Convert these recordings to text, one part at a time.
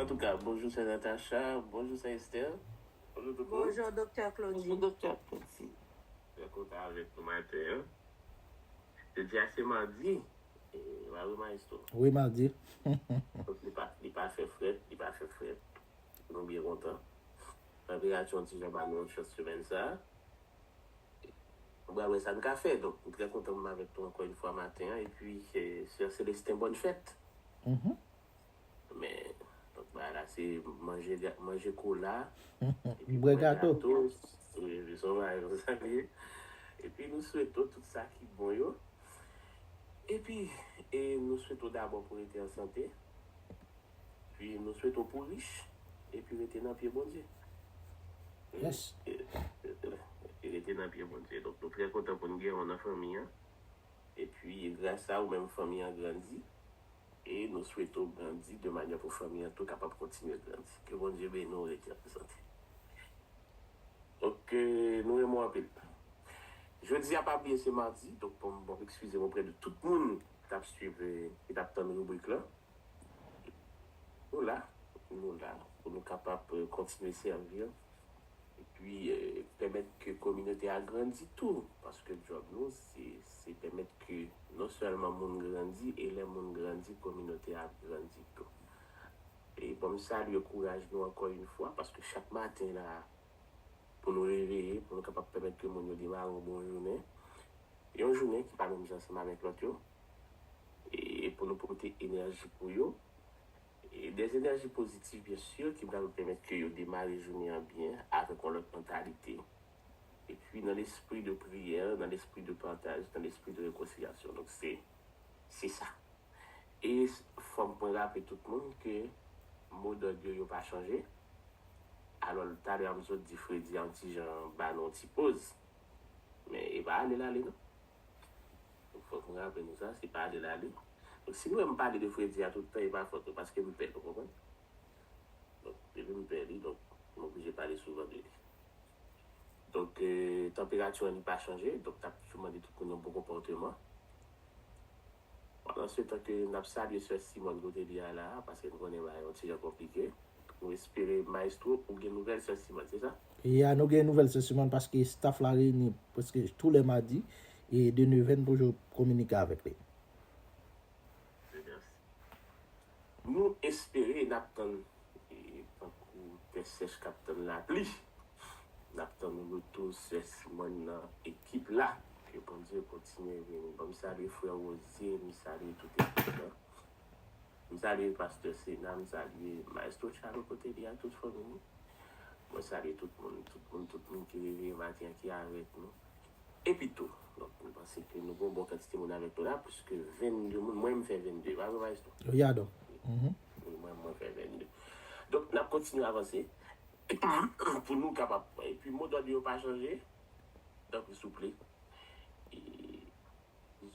Antouka bonjou sè Natacha, bonjou sè Esther, bonjou tout moun. Bonjou doktè Claudy. Bonjou doktè Claudy. Mwen kontan avèk nou maten an. Jodi a se mardi. E va wi maestro. Wi mardi. Li pa fè frèt, li pa fè frèt. Nou byen kontan. Malgre Achi yon ti jan ba nou yon chans semèn sa a. Nou pral wè sa n ka fè. Donk, m trè kontan pou m avèk nou ankò yon fwa maten an. Epi, Sè Célestin bòn fèt. Men, donk bagay la se manje ga, manje kola, epi bwè gato. Wi, se yon bagay konsa li ye. Epi nou swete w tout sa ki bon yo. Epi, e nou swete w dabò pou w rete an sante. Wi nou swete w pou rich epi rete nan pye Bondye. Yes. Epi rete nan pye Bondye. Donk nou trè kontan pou n gen w nan fanmi an. Epi gras a ou menm fanmi an grandi. E nou swete w grandi de manyè pou fanmi an tou kapab kontinye grandi. Ke Bondye beni w rete anpil sante. Ok nou renmen w anpil. Jodi a pa bliye se madi donk bon eskize m oprè de tout moun k tap swiv ki tap tann ribrik lan. Nou la, nou la pou nou kapab kontinye sèvi yo epi pèmèt ke kominote a grandi tou paske djòb nou se se pèmèt ke non sèlman moun grandi e lè moun grandi kominote a ap grandi tou. E bon m salye kouraj nou ankò yn fwa paske chak maten la a. pou nou reveye, pou nou kapab pèmèt ke moun yo demare yon bon jounen, yon jounen ki pa menm jan ansanm avèk lòt yo, e pou nou pote enèji pou yo, dè enèji pozitif byen sur ki pral pèmèt ke yo demare jounen an byen avèk yon lòt mantalite, epi nan lespri de priyè, nan lespri de pataj, nan lespri de rekonsilyasyon. Donk se. Se sa. E fòk mwen raple tout moun ke mo dòd yo yo pa chanje. Alò talè an m sot di Fredi an ti jan ba nou yon ti poz. Men e pa ale l ale non. Fòk m raple nou sa, se pa ale l ale. Donk si nou wè m pale de Fredi a tout tan e pa fòt nou paske m pè l ou konprann. Donk depi m pè li donk m oblije pale souvan de li. Donk, tanperati an li pa chanje, donk n ap toujou mande tout moun yon bon konpòteman. Pandan se tan ke n ap salye sè Simòn kote li a la a, paske nou konnen bagay yon ti jan konplike. Nou espere Maestro ou gen nouvèl sè Simòn, se sa? Ya, nou gen nouvèl sè Simòn paske staff la reyini prèske tou lè madi e de Neveh n toujou kominike avèk li. Dieu merci. Nou espere n ap tann tankou tè sèch k ap tann lapli. N ap tann retou sè Simòn nan ekip la. Ke Bondye kontinye beni. Bon m salye frè Rosie, m salye tout ekip lan. M salye pastè Sena, m salye maestro Charlo kote li a tout fanmi li. Mwen salye tout moun, tout moun, tout moun ki reveye maten an ki avèk nou. Epitou, donk mwen panse ke nou gen yon bon kantite moun avèk nou la, plis ke 22 moun, mwen menm m fè 22, e pa vre Maestro? Wi a donk. Wi mwen mwen fè 22. Donk n ap kontinye avanse pou nou kapab, epi mo dòd yo pa chanje, tanpri souple, e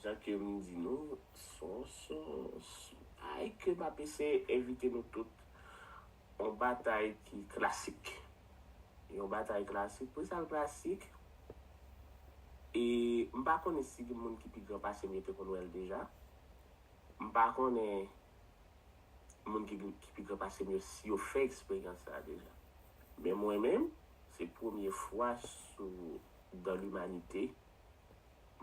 jan ke m di nou, son son, son, ay ke m ap eseye envite nou tout Yon batay ki klasik. Yon batay klasik? Pou sa l klasik? E m pa konnen si gen moun ki pi gran pase m yo te konn wè l deja. M pa konnen moun ki pi gran pase m yo si yo fè eksperyans sa a deja. Men mwen menm, se premye fwa sou dan limanite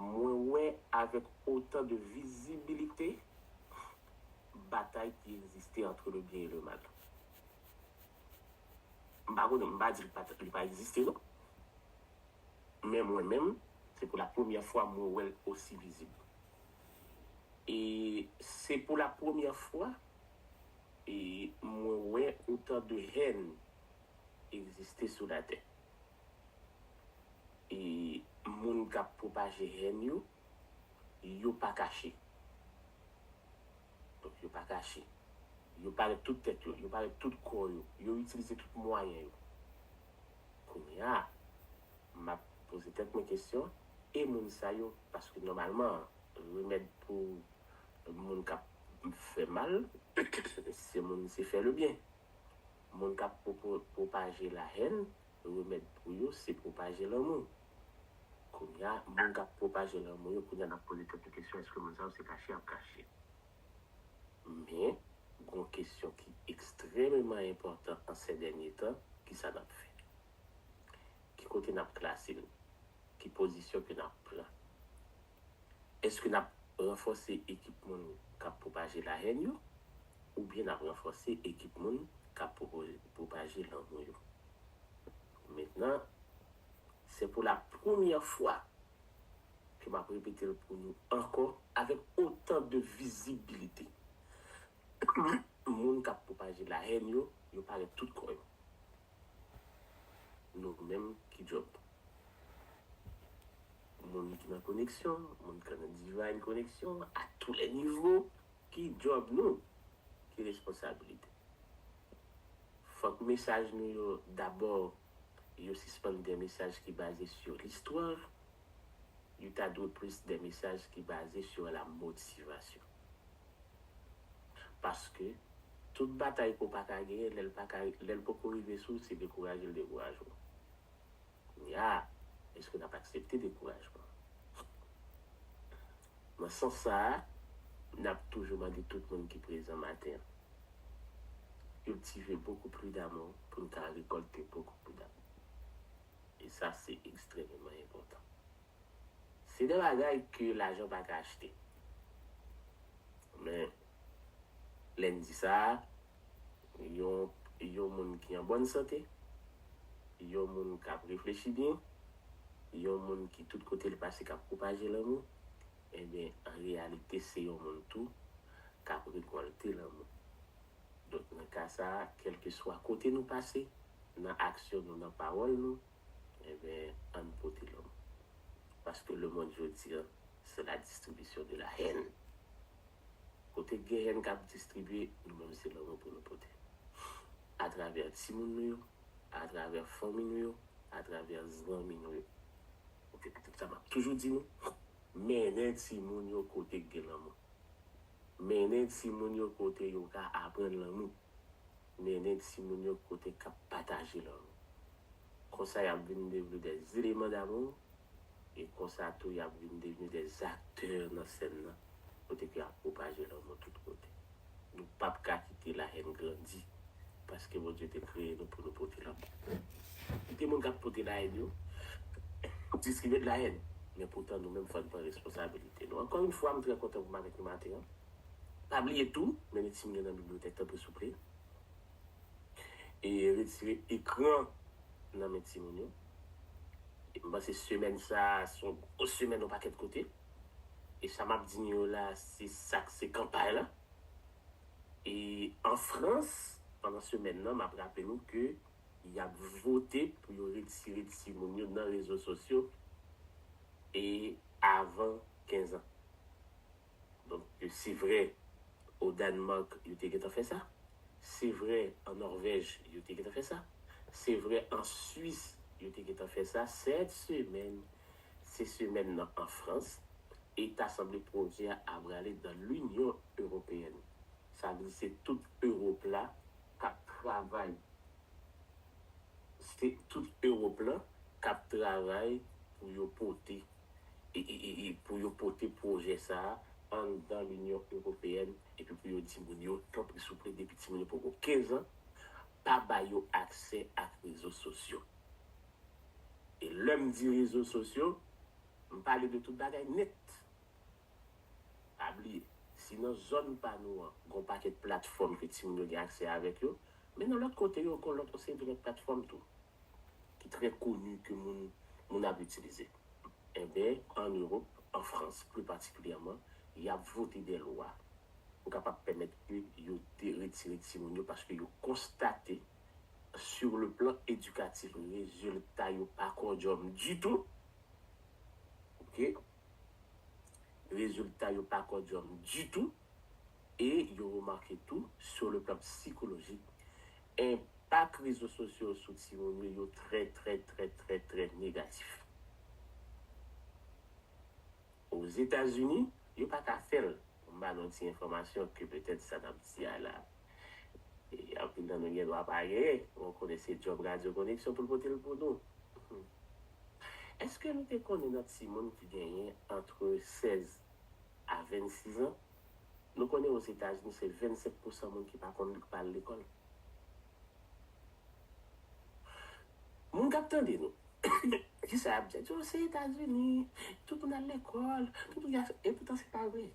mwen wè avèk otan de vizibilite batay ki egziste antre le byen e le mal. M pa konnen, m pa di li pa egziste non. Men mwen menm, se pou la premyè fwa mwen wè l osi vizib. E se pou la premyè fwa mwen wè otan de hèn egziste sou latè. E moun k ap pwopaje hèn yo, yo pa kache. Donk yo pa kache. Yo parèt tout tèt yo, yo parèt tout kò yo, yo itilize tout mwayen yo. Kounya a, m ap poze tèt mwen kesyon, e moun sa yo? Paske nòmalman, remèd pou moun k ap fè mal, se moun se fè le byen. Moun k ap pwopaje lahèn, Remèd pou yo se pwopaje lanmou. Kounye a, moun k ap pwopaje lanmou yo kounye a n ap poze tèt nou kesyon èske moun sa yo se kache y ap kache. Men, gen yon kesyon ki ekstrèmeman enpòtan an sè dènye tan, ki sa n ap fè? Ki kote n ap klase n? Ki pozisyon ke n ap pran? Èske n ap ranfòse ekip moun k ap pwopaje lahèn yo oubyen n ap ranfòse ekip moun k ap pwopaje lanmou yo? Mentnan, se pou lapremyè fwa ke m ap repete l pou nou ankò avèk otan de vizibilite, moun k ap pwopaje lahèn yo, yo parèt tout kò yo. Nou menm ki job moun ki nan koneksyon, moun ki nan divine koneksyon a tou lè nivo, ki job nou, ki responsabilite. Fòk mesaj nou yo dabò yo sispann de mesaj ki baze sur l'histoire, yo ta dwe plis de mesaj ki baze sur la motivation. Paske, tout batay ke w pa ka genyen, lè l pa ka, lè l poko rive sou ou, se dekouraje l dekouraje w. Kounye a, èske n ap aksepte dekourajman? Nan sans sa a, n ap toujou mande tout moun ki prezan maten an, Cultivez beaucoup plus d'amour pou n ka rekòlte beaucoup plus d'amour. E sa se ekstrememan enpòtan. Se de bagay ke lajan pa ka achte. Men, lè n di sa, yon yon moun ki an bòn sante, yon moun k ap reflechi byen, yon moun ki tout kote l pase k ap pwopaje lanmou, enben, an reyalite se yon moun tou k ap rekòlte lanmou. Donk, nan ka sa, kèlkeswa kote nou pase, nan aksyon nou, nan pawòl nou, Enben, ann pote lòm. Paske lemonn jodi a, se la distribisyon de la hèn. Kote gen hèn k ap distribye, nou menm se lanmou pou nou pote. Atravè timoun nou yo, atravè fanmi nou yo, atravè zanmi nou yo. Ok, sa m ap toujou di nou, mennen timoun yo kote k gen lanmou. Mennen timoun yo kote yo ka aprann lanmou. Nene timoun yo kote kap pataje love konsa yap vin devni des eleman damou e konsa tou yap vin devni des aktè nan sèn nan kote ke yap pwopaje lanmou tout kote nou pap ka kite la haine grandi paske Bondye te kreye nou pou nou pote lanmou kite moun kap pote la haine yo distribye de la haine men poutan nou menm fòn pran responsabilite nou ankò yn fwa m trè kontan pou m avèk nou maten an. Pa bliye tou, men li si m gen nan bibliyotèk tanpri souple e retire ekran nan men timoun yo. M panse semèn sa se yon gwo semèn yon pakèt kote e sa m ap di nou yo la se sa k se kanpay la. E an Frans pandan semèn nan m ap raple nou ke y ap vote pou yo retire timoun yo nan rezo sosyo e avan 15 an. Donk, se vre o Dannmark yo te gentan fè sa, se vre an Nòrvèj yo te gentan fè sa, se vre an Swis yo te gentan fè sa, sèt semèn se semèn nan an Frans e ta sanble pwojè a ap rale dan Linyon Ewopeyèn. Sa vle di se tout Ewop la k ap travay, se tout Ewop la k ap travay pou yo pote. e pou yo pote pwojè sa a anndan Linyon Ewopeyèn epi pou yo di moun yo, tanpri souple depi timoun yo poko 15 an, pa ba yo aksè ak rezo sosyo. E lè m di rezo sosyo, m pale de tout bagay nèt. Pa bliye, si nan zòn pa nou an, gen yon pakèt platfòm ke timoun yo gen aksè avèk yo, men nan lòt kote yo gen yon lòt yon seri de lòt platfòm tou. ki trè koni ke moun moun ap itilize. Enben, an Ewop, an Frans pli patikilyèman, y ap vote dè lwa pou kapab pèmèt ke yo de retire timoun yo paske yo konstate sur le plan edikatif rezilta yo pa kòdyòm ditou, ok, rezilta yo pa kòdyòm ditou. e yo remake tou, sur le plan psychologique, enpak rezo sosyo sou timoun yo yo trè trè trè trè trè negatif. Ozetazini, yo pa ka fè l, pou m ba nou yon ti enfòmasyon ke petèt sa n ap di a la, anpil nan nou gen dwa pa genyen, mwen konnen se djòb Radyo Koneksyon pou l pote l pou nou. Èske nou te konnen nan timoun ki genyen antre 16. a 26 an, nou konnen Ozetazini se 25 pousan moun ki pa konn li, ki pa al lekòl. Moun k ap tande nou, ki sa y ap di? Y ap di, O, se Etazini, tout moun al lekòl, tout moun gen ase. Epoutan se pa vre.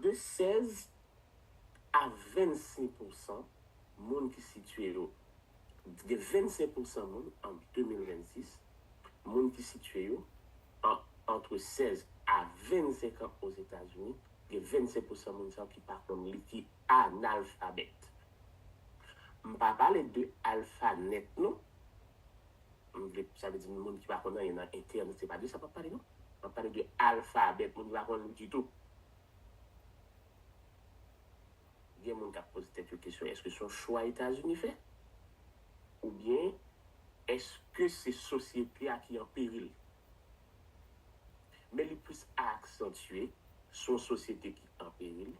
De 16 a 25 pousan. moun ki sitye yo t gen 25 pousan moun an 2026 moun ki sitye yo an antre 16 a 25 an Ozetazini gen 25 pousan moun sa yo ki pa konn li ki analfabèt m pa pale de alfa nèt non m vle sa vle di moun ki pa konn anyen nan entènèt se pa de sa m ap pale non m ap pale de alfabèt moun ki pa konn li ditou. Gen moun k ap poze tèt yo kesyon èske se yon chwa Etazini fè? Oubyen èske se sosyete a ki an peril? Men li plis aksantye sou yon sosyete ki an peril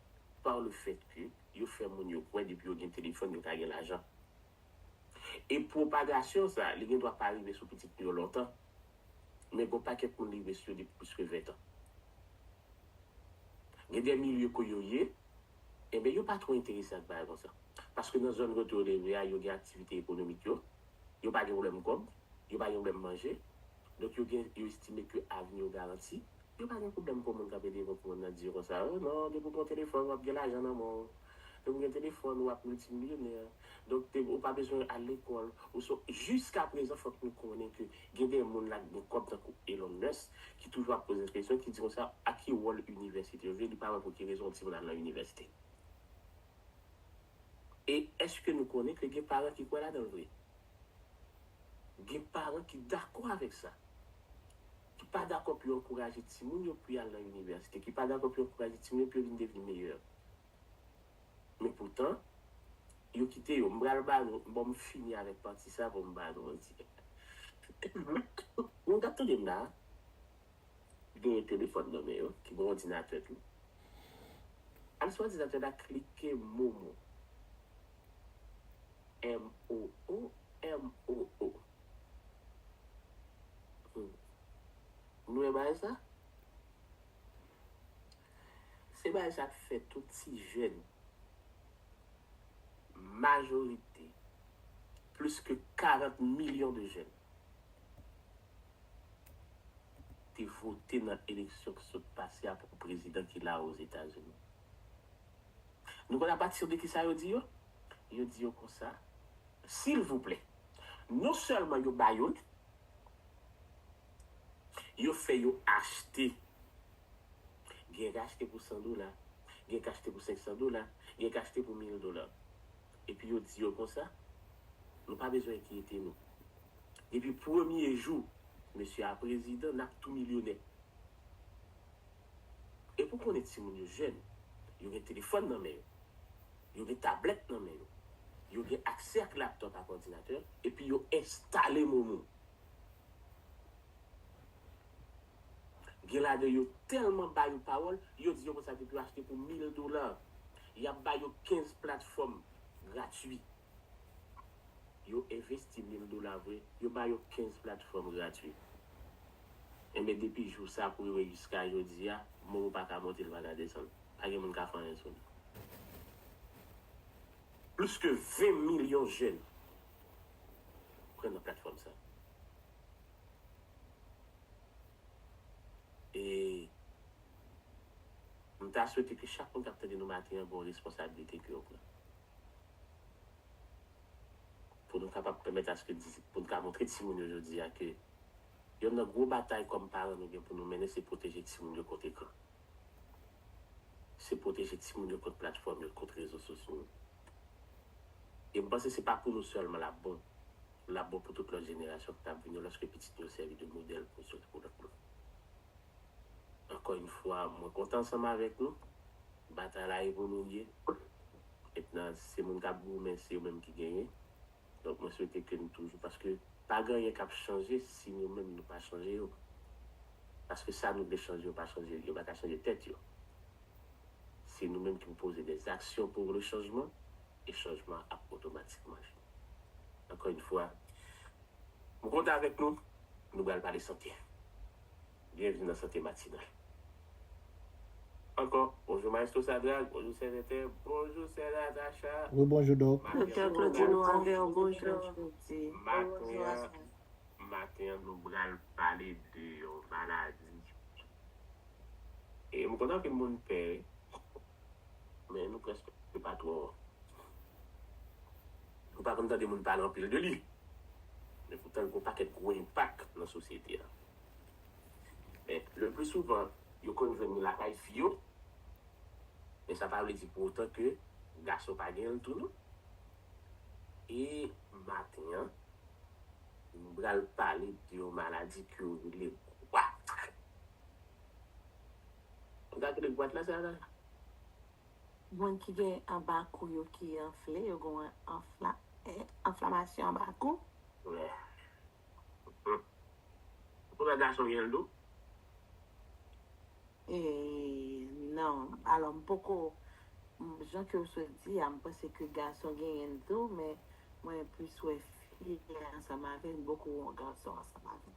par le fèt ke yo fè moun yo kwè depi yo gen telefòn yo ka gen lajan. E pwopagasyon sa a, li gen dwa pa rive sou pitit nou yo lontan, men gon pakèt moun li rive sou yo depi plis ke ventan. Gen de milye ko yo ye, enben yo pa twò enterese ak bagay konsa. Paske nan zòn kote yo leve a, yo gen aktivite ekonomik yo, yo pa gen pwoblèm kòb, yo pa gen pwoblèm manje, donk yo gen, yo estime ke avni yo garanti, yo pa gen pwoblèm kon moun k ap ede yo, kon moun nan di yo konsa, oh non, depi w gen yon telefòn, w ap gen lajan nan men w. Lè ou gen telefòn ou ap miltimilyonè, donk te ou pa bezwen al lekòl, ou so jiska prezan fòk nou konnen ke gen de moun lak gen kòb tankou Elon Musk ki toujou ap poze kesyon ki di konsa a ki wòl inivèsite jwe li pa wè pou ki rezon yon timoun al nan inivèsite e èske nou konnen ke gen paran ki kwè ladanl vre gen paran ki dakò avèk sa ki pa dakò pou yo ankouraje timoun yo pou y al nan inivèsite, ki pa dakò pou yo ankouraje timoun yo pou yo vin devni meyè. Men poutan, yo kite yo. M pral ba nou, bon m fini avèk pati sa pou m ba nou yon ti bagay. Nou tap tande m la a, genyen telefòn nan men yo, ki gen òdinatè tou. Al sou òdinatè la klike MOMO, M-O-O, M-O-O. Humm. M lwen baay sa? Se baay sa k fè tout ti jèn, majorite, plis ke 40 milyon de jèn, te vote nan eleksyon ki sot pase a pou prezidan ki la a Ozetazini. Nou konn apatir de kisa yo di yo? Yo di yo konsa, Silvouplè! Non sèlman yo ba yo l, yo fè yo achte. Gen k achte pou san dola, gen k achte pou senksan dola, gen k achte pou mil dola. Epi yo di yo konsa, Nou pa bezwen enkyete nou. Depi premye jou mesye a prezidan, n ap tou milyonè. E pou konnen timoun yo jèn, yo gen telefòn nan men yo, yo gen tablèt nan men yo, yo gen aksè ak laptòp ak òdinatè epi yo enstale momo. Gen ladan yo tèlman ba yo pawòl, yo di yo konn sa depi yo achte pou mil dola, y ap ba yo kenz platfòm gratwi. Yo envesti mil dola vre, yo ba yo 15 platfòm gratwi. Enben depi jou sa pou rive jiska jodi a, Moro pa ka monte li pa ka desann. Pa gen moun ka fè anyen sou li. Plis ke 20 milyon jèn pran nan platfòm sa. E m ta swete ke chak moun k ap tande nou maten an gen yon responsablite ke yo pran. Pou nou kapab pèmèt aske disip, pou nou ka montre timoun yo jodi a ke yonn nan gwo batay kòm paran nou gen pou nou mennen se pwoteje timoun yo kont ekran. Se pwoteje timoun yo kont platfòm yo, kont rezo sosyo yo. E m panse se pa pou nou sèlman l ap bon, l ap bon pou tout lòt jenerasyon ki t ap vini yo lòske pitit nou yo sèvi de modèl pou sòt pou lòt moun. Ankò yn fwa mwen kontan ansanm avèk nou, batay la evolorye et nan se moun kap goumen se yo menm ki genyen donk mwen swete ke n toujou paske pa gen anyen kap chanje si nou menm nou pa chanje yo paske sa nou vle chanje yo pa chanje yo paka chanje tèt yo se nou menm ki pou poze des aksyon pour le changement et changement an ap otomatikman vini ankò yn fwa m kontan avèk nou nou bal pale sante. Byenvni nan Sante Matinal. Ankò, bonjou Maestro Sadrac, bonjou Sè Vètè, bonjou Sè Natacha, Wi bonjou Dòk. Maten an nou pral Maten an, maten an nou pral pale de yon maladi e m konnen anpil moun pè wi. men nou prèske pa twò nou pa konn tande moun pale anpil de li men poutan l gen yon pakèt gwo enpak nan sosyete a men le pli souvan yo konn jwenn li lakay fi yo men sa pa vle di pou otan ke gason pa gen l tou non e maten an nou pral pale de yon maladi ke yo rele gwat. Gad kote bwat la sa la. Moun ki gen anba kou yo ki anfle yo gon anfla anflamasyon anba kou. Wè. Hum. Pou lòt gason genl tou? Eee non, alò m poko jan ke w sot di a m panse ke gason genyenl tou men mwen plis wè fi ansanm avèl m poko wè yon gason ansanm avèl.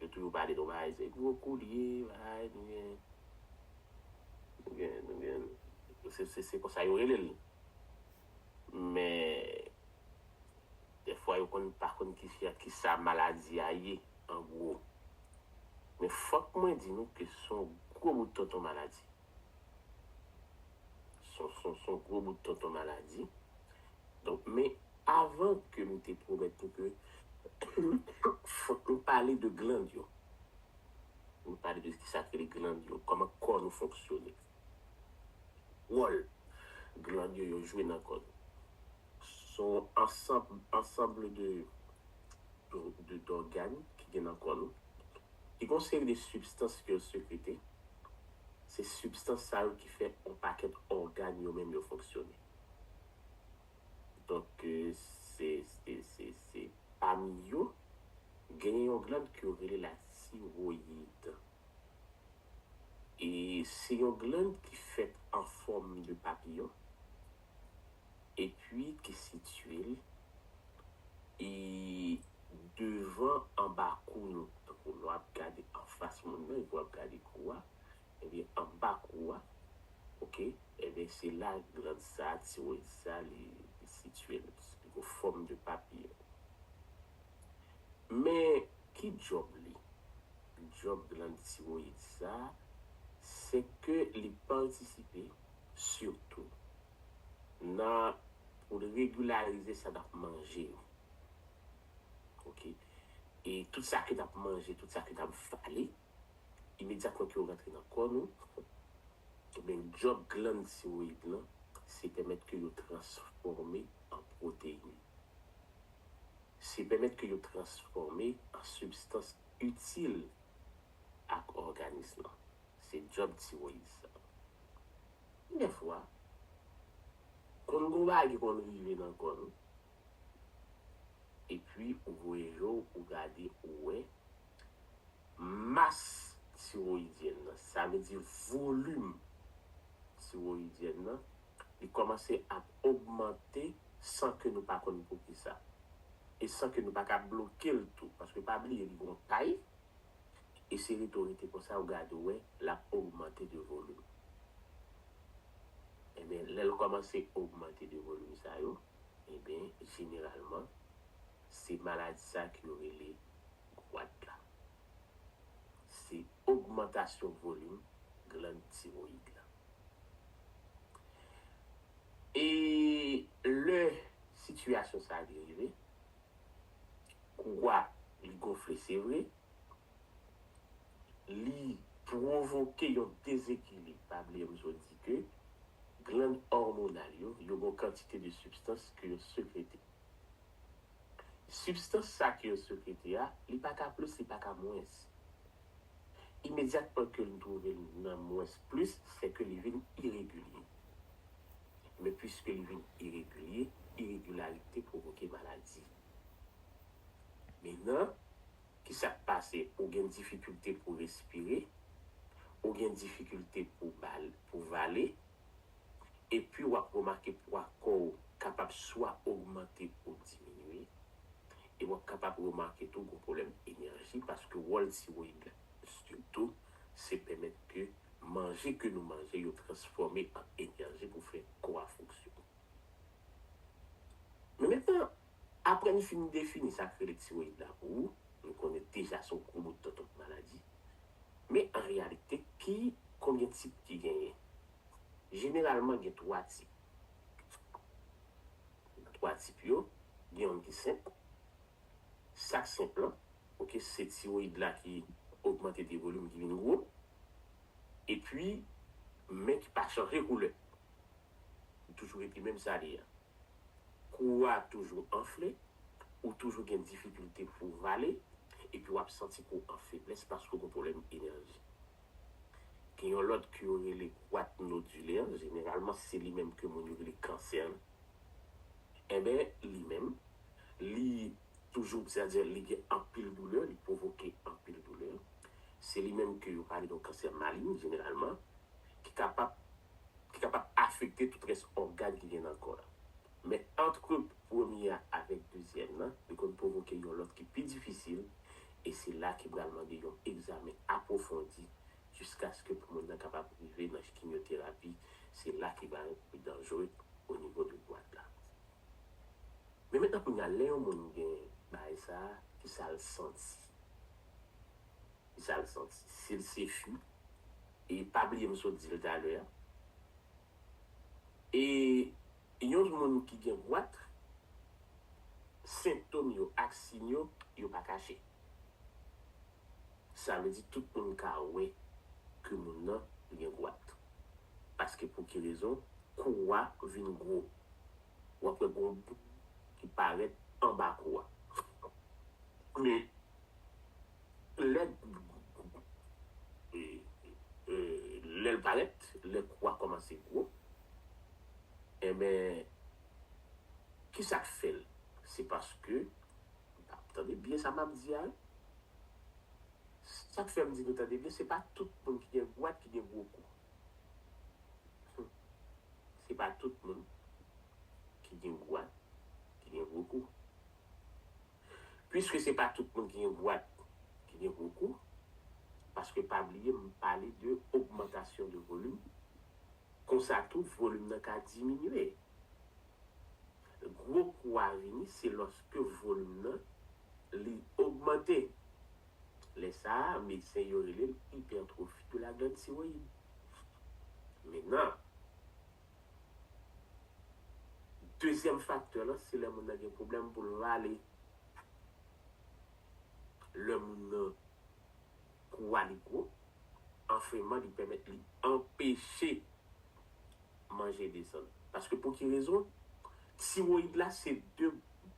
Yo toujou pale nou bay se gwo koulye bay nou gen nou gen nou gen se se konsa yo rele l men dèfwa yo konn pa konn ki fi ak ki sa maladi a ye an gwo men fòk mwen di nou ke se yon gwo bout tonton maladi. Son gwo bout tonton maladi. Donk men avan ke nou te pwomèt nou ke fòk nou pale de gland yo. Nou pale de ki sa k rele gland yo, kòman kò nou fonksyone. Wòl gland yo yo jwe nan kò nou. Son ansanble de dògàn ki gen nan kò nou. Ki gen yon seri de sibstans ke yo sekrete. Se sibstans sa yo ki fè on pakèt ògàn yo menm yo fonksyone. Donk se se pami yo genyen yon gland ke yo rele la tiroyid. E se yon gland ki fèt an fòm de papiyon. epi te sitye l e devan anba kou nou, tankou lè w ap gade anfas moun nan epi w ap gade kou a, ebyen anba kou a, ok, ebyen se la gland sa, tiroid sa li sitye l, li gen fòm de papiyon. Men ki djòb li? Djòb gland tiroid sa, se ke li patisipe sitou nan pou l regularize sa n ap manje yo ok e tout sa ke n ap manje tout sa ke n ap vale imedyatman ke yo rantre nan kò nou ebyen djòb glann tiroyid lan se pèmèt ke yo transfòme an pwoteyin se pèmèt ke yo transfòme an sibstans itil ak òganis lan se djòb tiroyid sa. Ki gen fwa, konn gon bagay ki konn rive nan kò nou, epi ou voye je w, ou gade, ou wè, mas tiroyidyèn nan, sa vle di volim tiroyidyèn nan, li kòmanse ap ogmante san ke nou pa konn poukisa. E san ke nou pa ka bloke l tou. Paske pa bliye li gon tay, e se rete w rete konsa ou gade ou wè lap ogmante de volim enben lè l kòmanse ogmante de volim sa yo enben jeneralman se maladi sa ke yo rele gwat la se ogmantasyon volim glann tiroyid la e lè sitiyasyon sa li rive kou gwa li gonfle se vre. li pwovoke yon dezekilib, pa bliye m sot di ke glann òmonal yo, yo gen yon kantite de sibstans ke yo sekrete. Sibstans sa ke yo sekrete a, li pa ka plis, li pa ka mwens. Imedyatman ke li twouve li nan mwens plis, se ke li vin iregilye. Men pwiske li vin iregilye, iregilarite pwovoke maladi. Mina, Kisak pase ou gen difikilte pou respire, ou gen difikilte pou pou vale, epi wap remake pwa kòw kapab swa ogmante ou diminye, e wap kapab remake tou gon pwoblèm enèji paske wòl tiroyid la sitou se pèmèt ke manje ke nou manje yo transfòme an enèji pou fè kò a fonksyone. Men mentnan, apre n fin defini sa k rele tiroyid la pou ou, nou konnen deja se yon gwo bout tontonp maladi. Men an reyalite, ki konbyen tip ki genyen? Jeneralman gen 3 tip. Nan 3 tip yo, gen youn ki senp. Sa k senp lan, ok, se tiroyid la ki ogmante de volim, ki vin gwo. Epi, men ki pa chanje koulè. li toujou rete menm sa li ye an. Kou ou a toujou anfle, ou toujou gen difikilte pou w vale, epi w ap santi kou w an feblès paske w gen pwoblèm enèji. Gen yon lòt ke yo rele goite nodulaire, jeneralman se li menm ke moun yo rele kansè lan. Enben, li menm, li toujou, sètadi li gen anpil doulè, li pwovoke anpil doulè. Se li menm ke yo pale de yon kansè malign, jeneralman, ki kapab ki kapab afekte tout rès ògàn ki gen nan kò a. Men antre premye a avèk dezyèm nan, li konn pwovoke yon lòt ki pi difisil, e se la ki pral mande yon egzamen apwofondi jiskaske pou moun nan kapab rive nan chkimyoterapi, se la ki pral pi danjre onivo de bwat la. Men mentnan kounye a lè yon moun gen bagay sa, ki sa l santi? Ki sa l santi? Si l se chou? e pa bliye m sot di l talè a, e yon moun ki gen gwatr, sentom yo ak siy yo, yo pa kache. Sa vle di tout moun ka wè ke moun nan gen gwatr. Paske pou ki rezon, kou a vin gwo. W ap wè gen yon boul ki parèt anba kou a. Men, Lèd lèl parèt lè kou a kòmanse gwo enben kisak fèl se paske tande byen sa map di a wi sak fèm di nou tande byen se pa tout moun ki gen gwòt ki gen gwo kou humm se pa tout moun ki gen gwòt ki gen gwo kou. Pwiske se pa tout moun ki gen bwat ki gen gwo kou, paske pa bliye m pale de ogmantasyon de volim, konsa tou volim nan ka diminye. Gwo kou a vini se lòske volim nan li ogmante. Lè sa a, medsen yo rele l ipètwofi de la gland tiroyid. Men nan. Dezyèm faktè lan se lè moun nan gen pwoblèm pou l rale. Lè moun nan kou a li gwo, anfreman li pèmèt li anpeche manje desann. Paske pou ki rezon? Tiroyid la se de,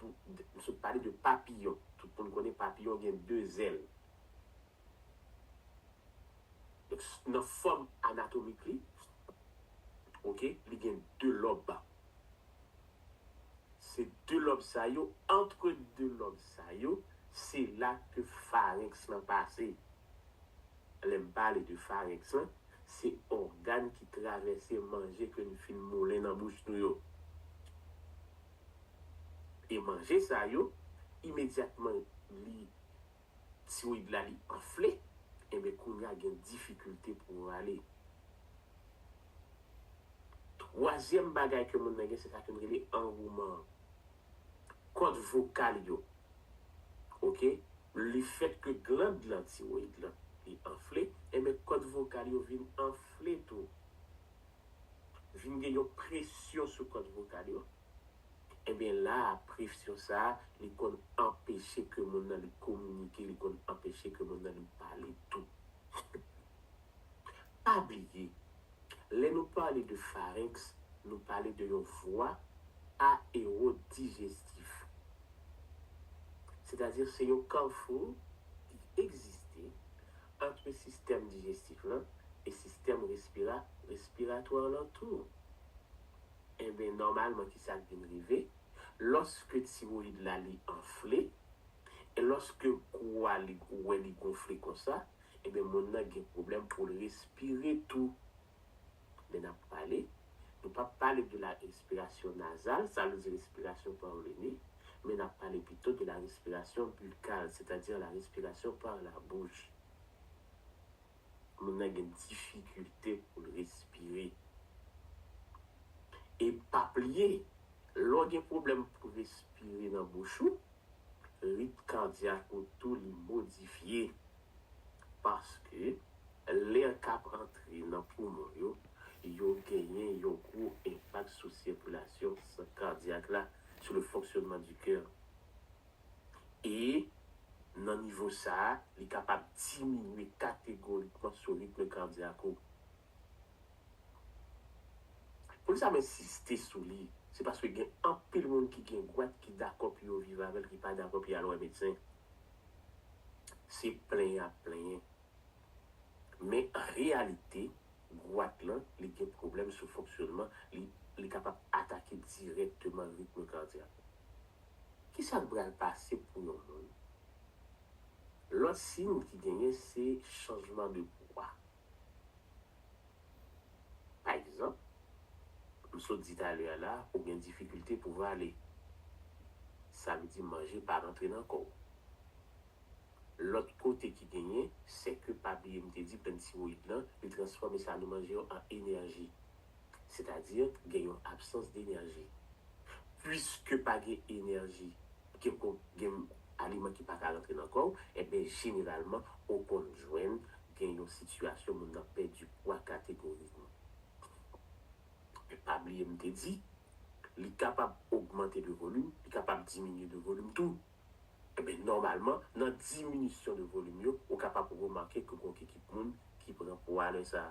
m sot pale de papiyon, tout moun konnen papiyon gen de zèl. Nan fòm anatomik li, ok, li gen 2 lòb. Se 2 lòb sa yo, antre 2 lòb sa yo, se la ke farenks lan pase. Lè m pale de farenks lan, se ògàn ki travèse manje ke n fin moulen nan bouch nou yo. E manje sa yo, imedyatman li tiroyid la li anfle enben kounya gen difikilte pou rale. Twazyèm bagay ke moun nan gen se sa ke nou rele anwouman an. Kòd vokal yo ok le fèt ke gland lan tiroyid lan li anfle enben kòd vokal yo vin anfle tou vin gen yon presyon sou kòd vokal yo Enben la a presyon sa a li konn anpeche ke moun nan li kominike, li konn anpeche ke moun nan li pale tou. Pa bliye, lè nou pale de pharynx, nou pale de yon vwa aerodijestif. Sètadi se yon carrefour ki egziste antre sistèm dijestif lan e sistèm respira, respiratoire lan tou. Enben, nòmalman ki sa k vin rive? Lòske tiroyid la li anfle, e lòske kou a li ou wè li gonfle konsa, enben moun nan gen pwoblèm pou l respire tou. Men n ap pale, nou p ap pale de la respiration nasale, sa vle di respirasyon pa ou le ne, men n ap pale pito de la respiration buccale, sètadi la respiration par la bouche. moun nan gen difikilte pou l respire. E pa bliye, lè w gen pwoblèm pou respire nan bouch ou, rit kadyak ou tou li modifye. Paske lè k ap antre nan poumon yo, yo genyen yon gwo enpak sou sikilasyon san kadyak la, sou le fonctionnement du coeur. e nan nivo sa a li kapab diminye kategorikman sou ritm kadyak ou. Poukisa m ensiste sou li, se paske gen anpil moun ki gen gwat ki dakò pou yo viv avè l ki pa dakò pou y al wè medsen. Se plenyen y ap plenyen. Men an reyalite, gwat lan li gen pwoblèm sou fonksyonman li, li kapab atake dirèkteman ritm kadyak ou. Ki sa k pral pase pou yon moun? Lòt siy ki genyen se chanjman de pwa. Pa egzanp, m sot di talè a la ou gen difikilte pou vale. Sa vle di manje pa rantre nan kò w. Lòt kote ki genyen, sèke pa bliye m te di plant tiwoyid lan, li transfòme sa nou manje yo an enèji. sètadi gen yon absans denèji. Puiske pa gen enèji, gen kon, gen aliman ki pa ka rantre nan kò ou, enben jeneralman ou konn jwenn gen yon sitiyasyon moun nan pèdi pwa kategorikman. Men pa bliye m te di, li kapab ogmante de volim, li kapab diminye de volim tou. Enben nòmalman, nan diminisyon de volim yo, ou kapab remake ke gon kikit moun ki pran pwa lè sa.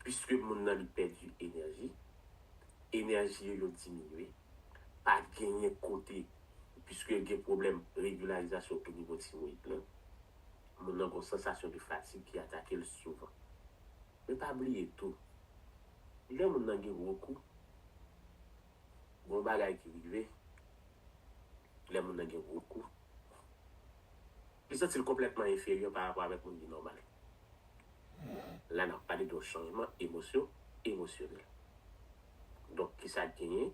Pwiske moun nan li pèdi enèji, enèji yo yo diminye, pa genyen kote pwiske gen pwoblèm regilarizasyon tou nivo tiroyid lan, moun nan gon sansasyon de fatig ki atake l souvan. Men pa bliye tou, lè moun nan gen gwo kou, gon bagay ki rive lè moun nan gen gwo kou. Li santi l konplètman enferyè pa rapò avèk moun ki nòmal. La n ap pale de yon chanjman emosyo emosyonèl. Donk ki sa k genyen?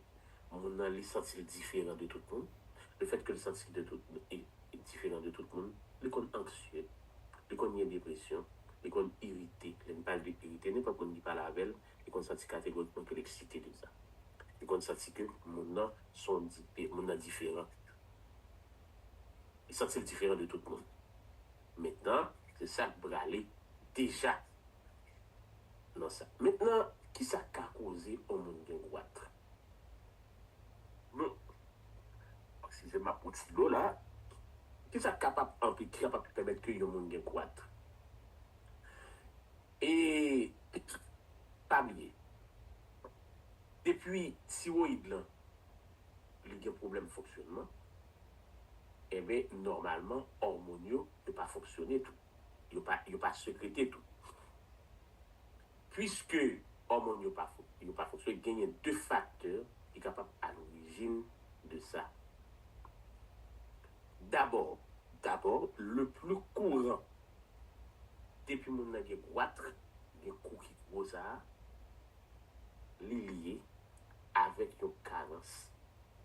Moun nan li santi l diferan de tout moun. Le fèt ke l santi de tout diferan de tout moun, li konn anksye, li konn gen depresyon, li konn irite. Lè n pale de irite, nenpòt moun ki pale avè l, li konn santi kategorikman ke l eksite de sa. Li konn santi ke moun nan s on moun nan diferan. Li santi l diferan de tout moun. Mentnan, se sa k prale deja nan sa. Mentnan, ki sa k ka koze yon moun gen gwat? Bon, oksijen m ap pran ti dlo la. Ki sa k kapab anpe, ki kapab pèmèt ke yon moun gen gwat? E, pa bliye, depi tiwoyid lan. li gen pwoblèm fonksyonman, enben nòmalman òmonn yo, yo pa fonksyone tou, yo pa yo pa sekrete tou. Puiske òmonn yo pa yo pa fonksyone, genyen 2 faktè ki kapab alorijin de sa. Dabò, dabò le pli kouran depi moun nan gen gwatr, gen kou ki gwo sa a, li lye avèk yon karans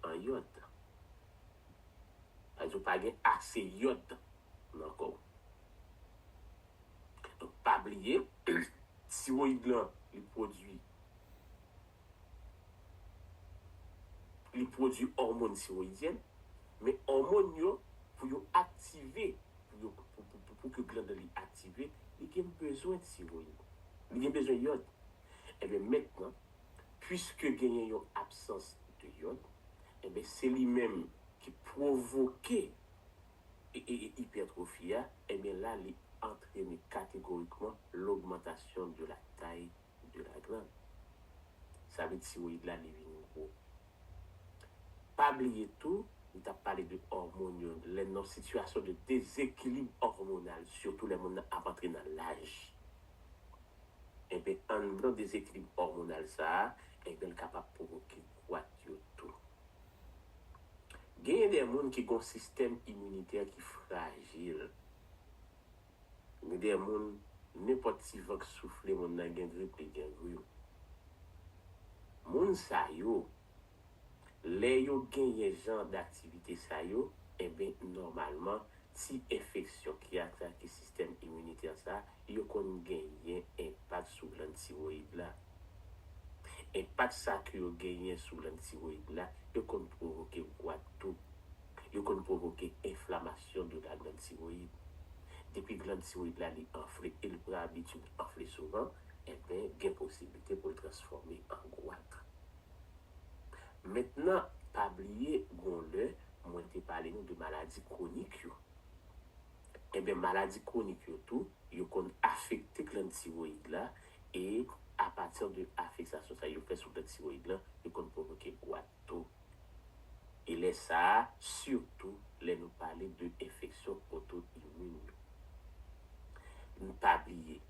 an yòd. Sa vle di ou pa gen ase yòd nan kò ou. Donk pa bliye, tiroyid lan li pwodui, li pwodui òmòn tiroyidyèn, men òmòn yo pou yo aktive, pou yo, pou ke glann nan li aktive, li gen bezwen tiroyid, li gen bezwen yòd. Enben mentnan, Puiske genyen yon absans de yòd, enben se li menm ki pwovoke ipètrofi a, enben la li antrene kategorikman logmantasyon de la tay de la gland. Sa vle tiroyid la li vin gwo. Pa bliye tou, m t ap pale de òmon yo, lè nan sitiyasyon de dezekilib òmonal, sitou lè moun nan ap antre nan laj. Enben, anndan dezekilib òmonal sa a, enben l kapab pwovoke gwat yo tou. Genyen de moun ki gen yon sistèm iminitè ki frajil. Gen de moun, nenpòt ti van k soufle moun nan gen grip, li gen grim. Moun sa yo, Lè yo genyen jan daktivite sa yo, enben nòmalman ti enfeksyon ki atake sistèm iminitè sa yo konn genyen enpak sou glann tiroyid la. Enpak sa ke yo genyen sou glann tiroyid la, yo konn pwovoke gwat tou. Yo konn pwovoke enflamasyon de la glann tiroyid. Depi glann tiroyid la li anfle e li pran abitid anfle souvan, enben gen posiblite pou l transfòme an gwat. Mentnan pa bliye gon lè mwen te pale nou de maladi kwonik yo. Enben maladi kwonik yo tou yo konn afekte glann tiroyid la e apati de afeksasyon sa yo fè sou glann tiroyid lan yo konn pwovoke gwat tou. E lè sa a sitou lè nou pale de enfeksyon oto imin yo. N pa bliye.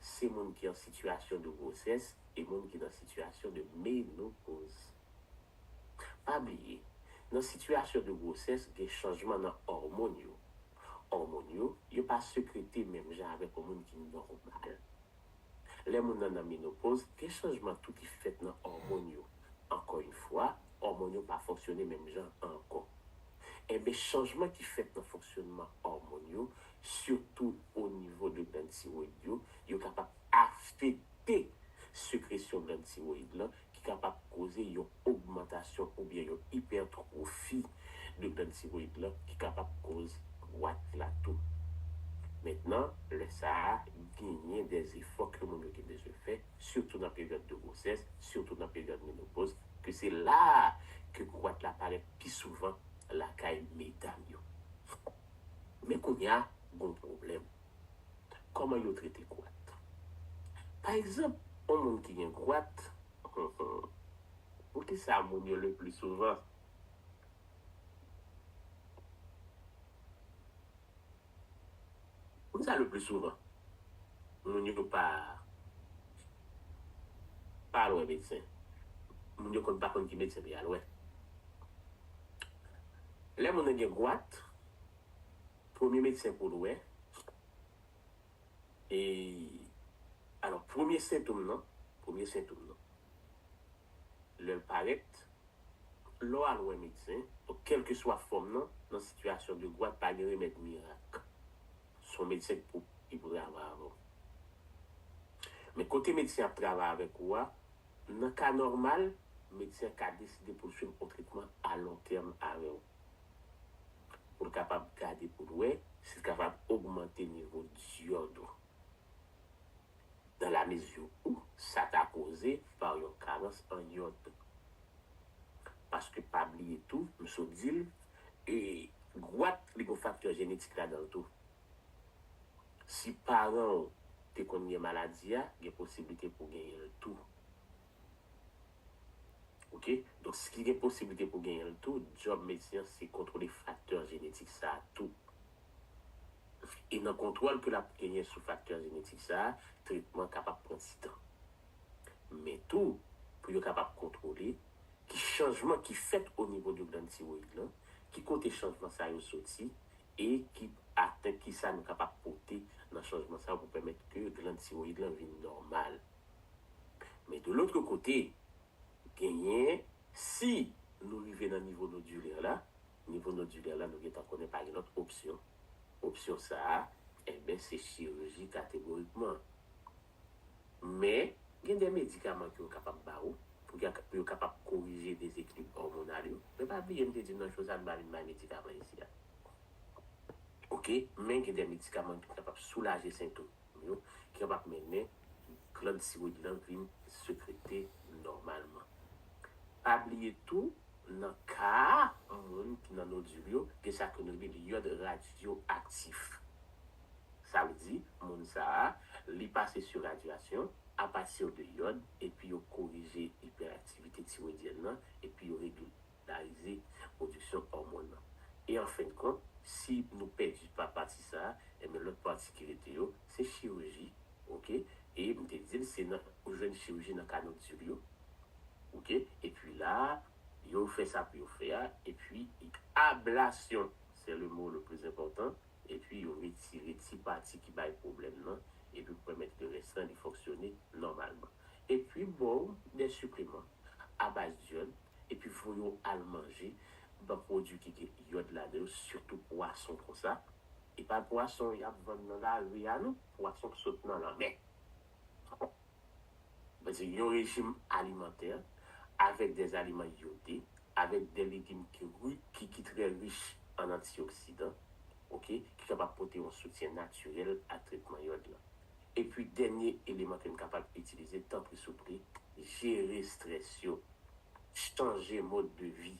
se moun ki an sitiyasyon de gwosès e moun ki nan sitiyasyon de menopoz. Pa bliye, nan sitiyasyon de gwosès gen chanjman nan òmon yo. Òmon yo, yo pa sekrete menm jan avèk yon moun ki nòmal. Lè moun nan nan menopoz, gen chanjman tou ki fèt nan òmon yo. Ankò yon fwa, òmon yo pa fonksyone menm jan ankò. Enben, chanjman ki fèt nan fonksyonman òmon yo sitou o nivo de gland tiroyid yo, yo kapab afekte sekresyon gland tiroyid lan ki kapab koze yon ogmantasyon oubyen yon ipètwofi de gland tiroyid lan ki kapab koz gwat la tou. Mentnan, lè sa a, genyen de efò ke moun yo gen bezwen fè, sitou nan peryòd de gwosès, sitou nan peryòd menopoz, ke se la a ke gwat la parèt pi souvan lakay medam yo. Men kounya gon pwoblèm. Kòman yo trete gwat? Pa egzanp, on moun ki gen gwat, pou kisa moun yo le pli souvan. Pou kisa le pli souvan moun yo pa. pa al wè medsen. Moun yo konn pa konn ki medsen pou y al wè. Lè moun nan gen gwat, premye medsen pou l wè, e alò premye sentom nan, premye sentom nan, lè l parèt, lè w al wè medsen, donk kèlkeswa fòm nan, nan sitiyasyon de gwat pa gen remèd mirak. son medsen k pou li pou travay avè w men kote medsen ap travay avèk ou a nan ka nòmal medsen an ka deside pou l swiv on tretman a lon tèm avè w pou l kapab gade pou l wè si l kapab ogmante nivo dyòd ou dan la mezi ou sa ta koze pa w yon karans an yòd paske pa bliye tou m sot di l E gwat li gon faktè jenetik ladanl tou. Si paranw te konn gen maladi a gen posiblite pou genyenl tou. Ok donk ski gen posiblite pou genyenl tou djòb medsen an se kontwole faktè jenetik sa tou. E nan kontwòl ke lap genyen sou faktè jenetik sa tretman kapab pran ti tan. men tou pou yo kapab kontwole ki chanjman ki fèt o nivo de glann tiroyid lan, ki kote chanjman sa yo soti e ki atent ki sa nou kapab pote nan chanjman sa yo pou pèmèt ke glann tiroyid lan vin nòmal. Men de lotre kote, genyen, si nou rive nan nivo nodilè la, nivo nodilè la nou gen tan konnen pa gen lòt opsyon, opsyon sa a, enben se chiriji kategorikman. Men, gen de medikaman ke yo kapab ba ou pou yo kapab korije dezekilib òmonal yo. Men pa bliye m te di w nan cho sa a nou pa vin bay medikaman isi a. Ok, men gen de medikaman ki kapab soulaje sentom yo, ki kapab mennen glann tiwoyid lan vin sekrete nòmalman. Pa bliye tou, nan ka moun ki nan nodil yo, gen sa ke nou rele yòd radyoaktif. Sa vle di, moun sa a, li pase sou radyasyon apatir de yòd epi yo korije ipèraktivite tiroidyèn nan epi yo regilarize pwodiksyon òmon nan. E an fen de kont, si nou pèdi pa pati sa a, enben lòt pati ki rete yo, se chiriji, oke, e m te di l se nan, ou jwenn chiriji nan kanodil yo, oke, epi la a, yo fè sa pou yo fè a, epi ablasyon, se le mo le pli enpòtan, epi yo retire ti pati ki bay pwoblèm nan epi pou pèmèt ke rès lan li fonksyone nòmalman. Epi ba w de sipliman abaz d'iode epi voye w al manje ba pwodui ki gen iode ladan yo sitou pwason konsa, e pa pwason y ap vann nan lari a non, pwason ki sot nan lanmè. Mwen di yon rejim alimantè avèk dè aliman yode, avèk dè legim ki ri, ki ki trè rich an antioksidan, ok, ki kapab pote yon soutyen natirèl a tretman yòd lan. Epi dènye eleman ke n kapab itilize, tanpri souple, jere strès yo, chanje mode de vie,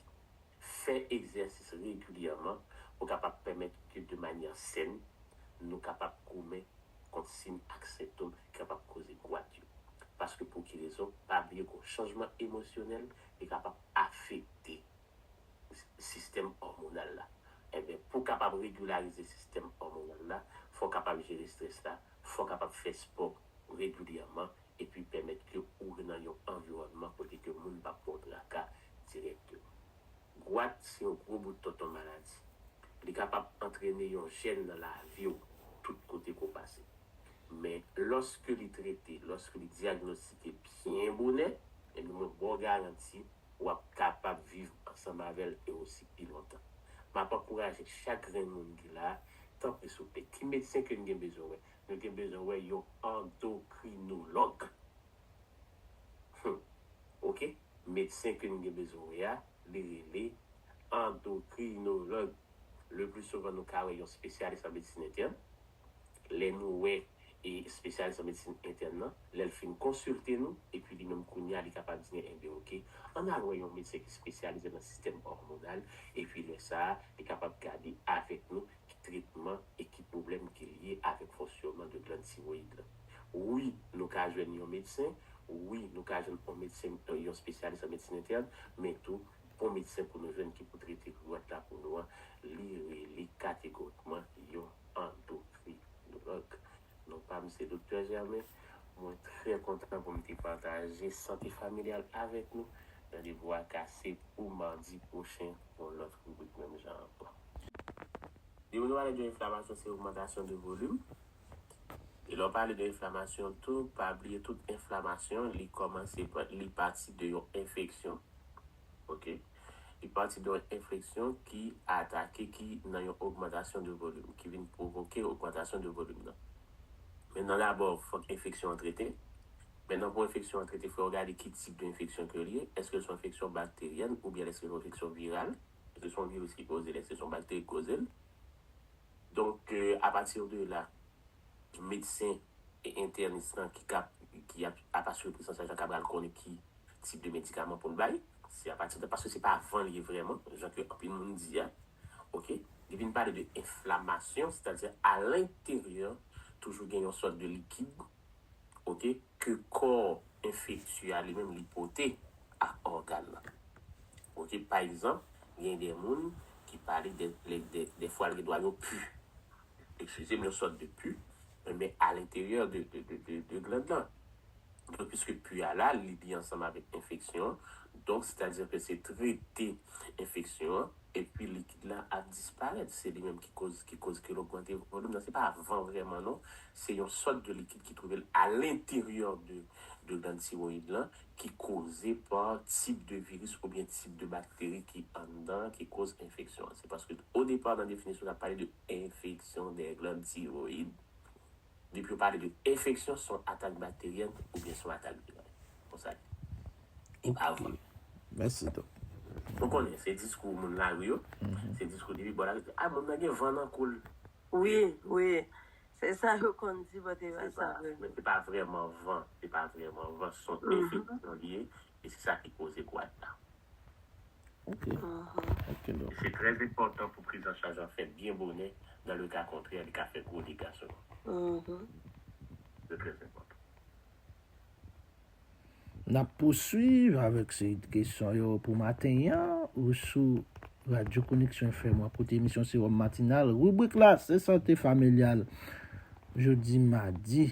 fè egzèsis regilyèman pou kapab pèmèt ke de manyè sèn, nou kapab goumen kont sim ak sentom ki kapab koze gwat yo. Paske pou ki rezon, pa bliye gon chanjman emosyonèl li kapab afekte sistèm òmonal la. Enben, pou kapab regilarize sistèm òmonal la, fò kapab jere strès la, fò kapab fè spò regilyèman epi pèmèt ke ou nan yon anviwònman kote ke moun pap ba w traka dirèkteman. Gwat se yon gwo bout tonton maladi. Li kapab antrene yon jèn nan lavi w tout kote ke w pase. Men lòske li trete, lòske li dyagnostike byen bonè, ebyen mwen ba w garanti w ap kapab viv ansanm avè l e osi pi lontan. M ap ankouraje chak grenn moun ki la a, tanpri souple, ki medsen ke n gen bezwen wè? Nou gen bezwen wè yon andokrinològ. Humm ok medsen ke nou gen bezwen wè a li rele andokrinolog le pli souvan nou ka wè yon spesyalis an medsin entèn lè nou wè e spesyalis an medsin entèn nan lèl fin konsilte nou epi li menm kounye a li kapab di nou enben ok ann al wè yon medsen ki spesyalize nan sistèm òmonal epi lè sa li kapab gade avèk nou ki tretman e ki pwoblèm ki lye avèk fonsyonman de glann tiroyid lan. Wi, nou ka jwenn yon medsen, wi, nou ka jwenn yon medsen, yon spesyalis an medsin entèn, men tou, bon medsen pou nou jwenn ki pou trete grigwant la pou nou an, li rele kategorikman yon andokrinòlòg. Non pam se Doktè Germain, mwen trè kontan pou m te pataje sante familyal avèk nou. Randevou a kase pou madi pwochen pou yon lòt ribrik menm jan ankò. Depi nou pale de enflamasyon se ogmantasyon de volim, e lè w pale de enflamasyon tou pa bliye tout enflamasyon li kòmanse li pati de yon enfeksyon ok. Li pati de yon enfleksyon ki atake ki nan yon ogmantasyon de volim ki vin pwovoke ogmantasyon de volim nan. Men nan dabò fòk enfeksyon an trete. Men nan pou enfeksyon an trete fò yo gade ki tip de enfeksyon ke li ye. Eske l son enfeksyon bakteryèn oubyen l eske l son enfeksyon viral. Eske son viris ki koze l, eske son bakteri ki koze l. Donk a pati de la medsen entènis lan ki kap ki ap asire pris an chaj la ka pral konnen ki tip de medikaman pou n bay, se apati de, paske se pa van l ye vrèman, jan ke anpil moun di a, ok, li vin pale de enflamasyon, sètadi a lenteryè toujou gen yon sòt de likid, ok, ke kò enfektye a li menm li pote a ògàn nan, ok, pa egzanp, gen de moun ki pale de, de fwa l gen dwa yo pu, eksizem yon sòt de pu men alenteryè de gland la donk piske pu a la li li ansanm avèk enfeksyon an donk sètadi ke se trete enfeksyon an epi likid la ap disparèt se li menm ki koz ki koz ke l ogmante volum nan se pa van vrèman non se yon sòt de likid ki twouve l alenteryè de gland tiroyid lan ki koze pa tip de viris oubyen tip de bakteri ki anndan ki koz enfeksyon an. Se paske o depa nan definisyon sa pale de enfeksyon dè gland tiroyid. Depi yo pale de enfeksyon se yon atak bakteryèn oubyen se yon atak viral. Konsa l ye. Li pa vole. Mèsi dòk. Nou konnen se diskou moun lari yo. Se diskou depi bò lari. A moun nan gen van nan kou l. Wi, wi. Se sa yo konn di bò te vè sa vre. Men se pa vrèman van, se pa vrèman van, son efè bouyon li ye, e se sa ki koze gwad la. Ok. Ok donk. Se trè enpòtan pou prizanchaj an fèt byen bonè, dan le ka kontrè li ka fè gwo dega sou moun. Se trè enpòtan. N ap pouswiv avèk seri de kesyon yo pou maten an ou sou Radyo Koneksyon FM an kote emisyon Sewòm Matinal ribrik la se Sante Familyal jodi madi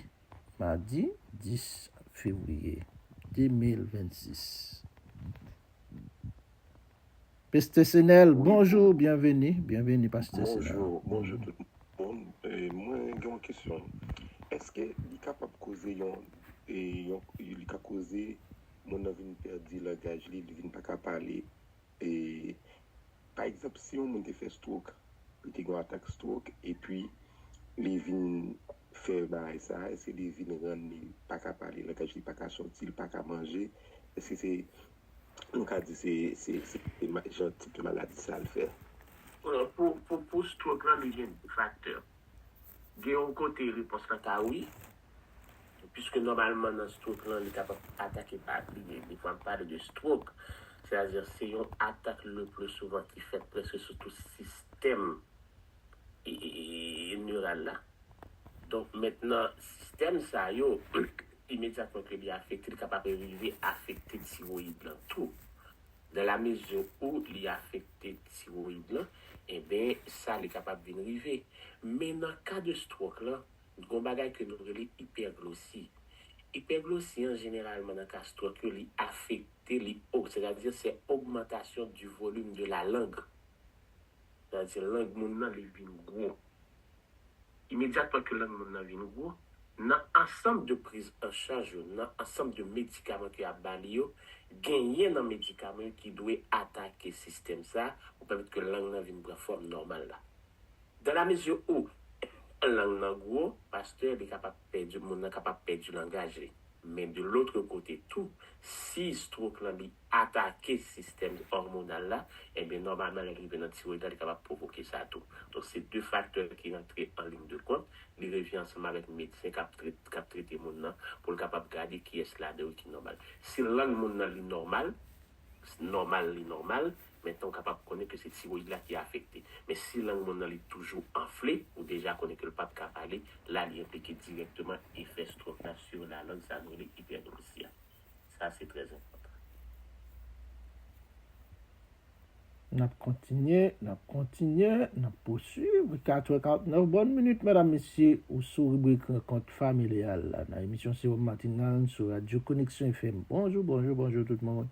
madi 10 fevriye 2026. Peste Senel bonjour bienveni bienveni pastè senel. Bonjour bonjour tout moun mwen gen yon kesyon eske li kapab koze yon yon li ka koze moun nan vin pèdi langaj li li vin paka pale e pa egzanp si yon moun te fè stroke li te gen yon atak stroke epi li vin fè bagay sa eske li vin ranni paka pale langaj li paka sòti li paka manje eske se nou ka di se jan tip de maladi sa l fè. Pou strok lan li gen 2 faktè. Gen yon kote repons lan ka wi, puiske nòmalman nan strok lan li kapab atake pa li menm. Lè m pale de strok, sètadi se yon atak lepli souvan ki fèt prèske sou tout sistèm. neural la. Donk mentnan sistèm sa yo imedyatman ke li afekte li kapab rive afekte tiroyid lan tou. Dans la mesure où li afekte tiroyid lan enben sa li kapab vin rive. Men nan ka de stroke lan gon bagay ke nou rele ipèglosi. Ipèglosi an jeneralman nan ka stroke yo li afekte li o sètadi se ogmantasyon du volume de la langue Gadyen lang moun nan li vin gwo. Imedyatman ke lang moun nan vin gwo, nan ansanm de priz an chaj yo, nan ansanm de medikaman ke y'ap ba li yo, genyen nan medikaman yo ki dwe atake sistèm sa pou pèmèt ke lang nan vin pran fòm nòmal la. Dan la mezi ou lang nan gwo, pastè, li kapab pèdi moun nan kapab pèdi langaj li. Men de lotre kote tou, si strok lan li atake sistèm òmonal la, enben nòmalman lè li rive nan tiroid la li kapab pwovoke sa tou. Donk se de faktè ki rantre an liy de kont, li revyen ansanm avèk medsen kap kap trete moun nan pou l kapab gade kiyès ladan yo ki nòmal. Si lang moun nan li nòmal, nòmal li nòmal, Men tan ou kapab konnen ke se tiroyid la ki afekte. Men si lang moun nan li toujou anfle, ou deja konnen ke l pap ka pale, la li enplike dirèkteman efè strok la sur la langue sa nou rele hyperglossia. Sa se trè enpòtan. Nap kontinye, nap kontinye, nap posuiv. 4 è 49 bòn minit medam mesye, ou sou ribrik rankont familial la nan emisyon Sewòm Matinal sou radyo Koneksyon FM. Bonjou, bonjou, bonjou tout moun.